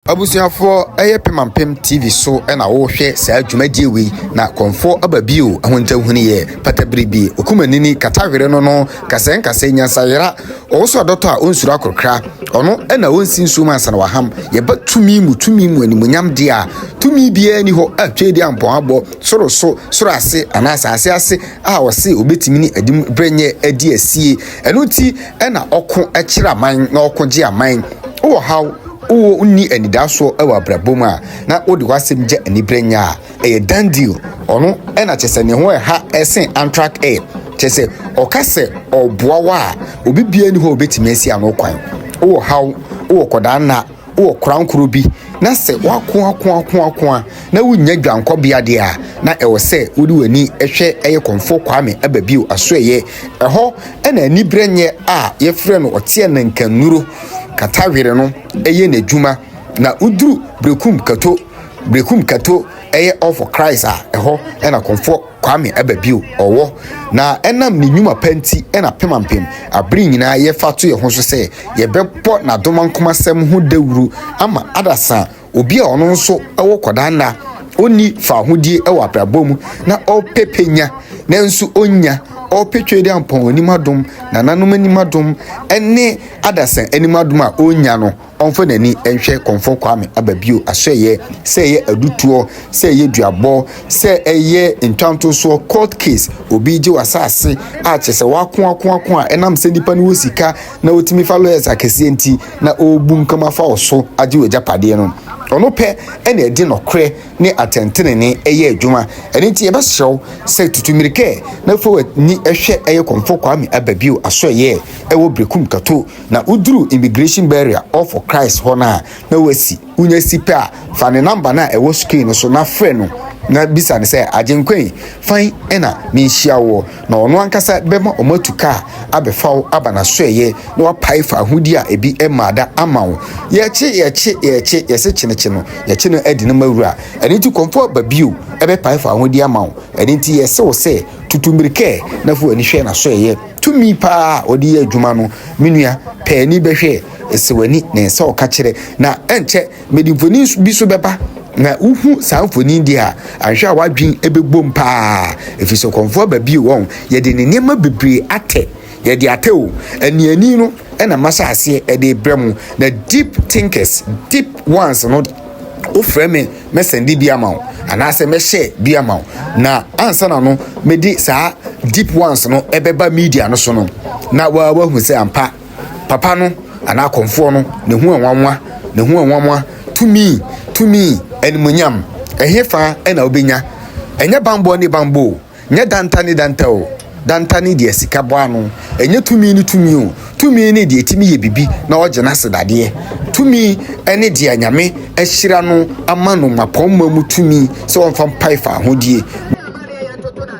Abusuafoɔ ɛyɛ pem ampem TV so na wohwɛ saa dwumadie wei na kɔmfoɔ aba bio ahunta huniɛ pata bere bi okumanini kata were no no nkasɛɛ nkasɛɛ nyansa yera ɔwoso adɔtɔ a ɔnsuro akorokra ɔno na ɔnsi nsuo mu ansa na waham yɛba tumi mu tumi mu animuonyam deɛ a tumi biara ni hɔ a tweedi ampɔn abɔ soro so soro ase anaa asaase ase a ɔse ɔbɛtumi ne adim berɛ nyɛ adi asie ɛno nti na ɔko kyerɛ aman na ɔko gye aman wɔ haw Wonni anidasoɔ wɔ abrabɔ mu a, na wode w'asɛm gya anibere nyɛ a, ɛyɛ done deal. Ɔno na kyerɛ sɛ ne ho ɛha sen Antrak Air. Kyerɛ sɛ, ɔka sɛ ɔreboa wo a, obi biara nni hɔ a ɔbɛtumi asi ano kwan. Wowɔ haw, wowɔ akwadaa nna, wowɔ korankoro bi, na sɛ woako ako ako ako a, na wonnya dwankɔbea deɛ a, na ɛwɔ sɛ wode w'ani hwɛ ɛyɛ Komfo Kwame Ababio Asoɛeɛ. Ɛhɔ na aniberɛnyɛ a yɛfrɛ no ɔteɛ nanka nnuro. Katawere no yɛ n'adwuma na woduru Berekum Kato, Berekum Kato yɛ All for Christ a ɛhɔ na Komfo Kwame Ababio wɔ na ɛnam ne nnwuma pa nti na Pemampem abere nyinaa yɛfa to yɛn ho so sɛ yɛbɛbɔ n'adomankomasɛm ho dawuru ama adasa obi a ɔno nso wɔ kɔdaa nna, ɔnni faahodie wɔ abrabɔ mu na ɔpɛ pɛ nya nanso ɔnnya, ɔpɛ Twedeampɔn anim adom, nananom anim adom ne adasa anim adom a ɔnnya no, ɔmfa n'ani nhwɛ Kɔmfɔ Kwame aba bio asɔɛeɛ, sɛ ɛyɛ adutoɔ, sɛ ɛyɛ duabɔ, sɛ ɛyɛ ntwantosoɔ, court case, obi gye w'asaase a kyerɛ sɛ w'ako ako ako a ɛnam sɛ nipa no wɔ sika na ɔtumi fa lawyers akɛseɛ nti, na ɔrebunkam afa wo so agye w'agyapadeɛ no. Ɔno pɛ na ɛde nɔkorɛ ne atɛntenenee yɛ adwuma. Ɛno nti yɛbɛsrɛ wo sɛ tutu mmirika na fa w'ani hwɛ ɛyɛ Kɔmfo Kwame Ababio asoɛeɛ ɛwɔ Berekum Kato. Na woduru Immigration Barrier off for Christ hɔ no a na wasi. Wonya si pɛ a, fa ne number no a ɛwɔ screen no so na frɛ no na bisa no sɛ, Agyenkwa yi, fan na menhyia woɔ? na ɔno ankasa bɛma wɔatu ka abɛfa wo aba n'asoɛeɛ na wapae faahodi a ebi mmaa da ama wo. Yɛkye, yɛkye, yɛkye, yɛse kyenekye no, yɛkye no adi no ma wura. Ɛno nti kɔmfo aba bio bɛpae faahodi ama wo. Ɛno nti yɛse wo sɛ, tutu mmirika na fa w'ani hwɛ n'asoɛeɛ. Tumi pa ara a ɔde yɛ adwuma no, me nua, pae ani bɛhwɛ, ese w'ani, na ɛnsɛ ɔka kyerɛ, na ɛnkyɛ, Mede mfoni bi nso bɛba, na wuhu saa mfoni yi deɛ a, anhwɛ a w'adwene bɛbom paa, ɛfiri sɛ ɔkɔmfoɔ aba bio wɔ ho. Yɛde ne nneɛma bebree atɛ. Yɛde atɛ o. Aniani no na mahyɛ aseɛ de rebrɛ mo, na deep thinkers, deep ones no, wofrɛ me, mɛsɛnde bi ama wo, anaasɛ mɛhyɛ bi ama wo, na ansa na no mede saa deep ones no ɛbɛba media no so no, na woahu sɛ ampa Papa no, anaa Kɔmfoɔ no, ne ho nwanwa, ne ho nwanwa, tumi, tumi, animuonyam, ɛhefa na wobɛnya? Ɛnyɛ banbɔ ne banbɔ o, nyɛ danta ne danta o, danta ne deɛ sika bɔ ano, ɛnyɛ tumi ne tumi o, tumi ne deɛ ɛtumi yɛ biribi na ɔgye no ase dadeɛ, tumi ne deɛ Nyame ahyira no ama no mmapɔmma mu tumi sɛ ɔmfa mpae fa ahodie.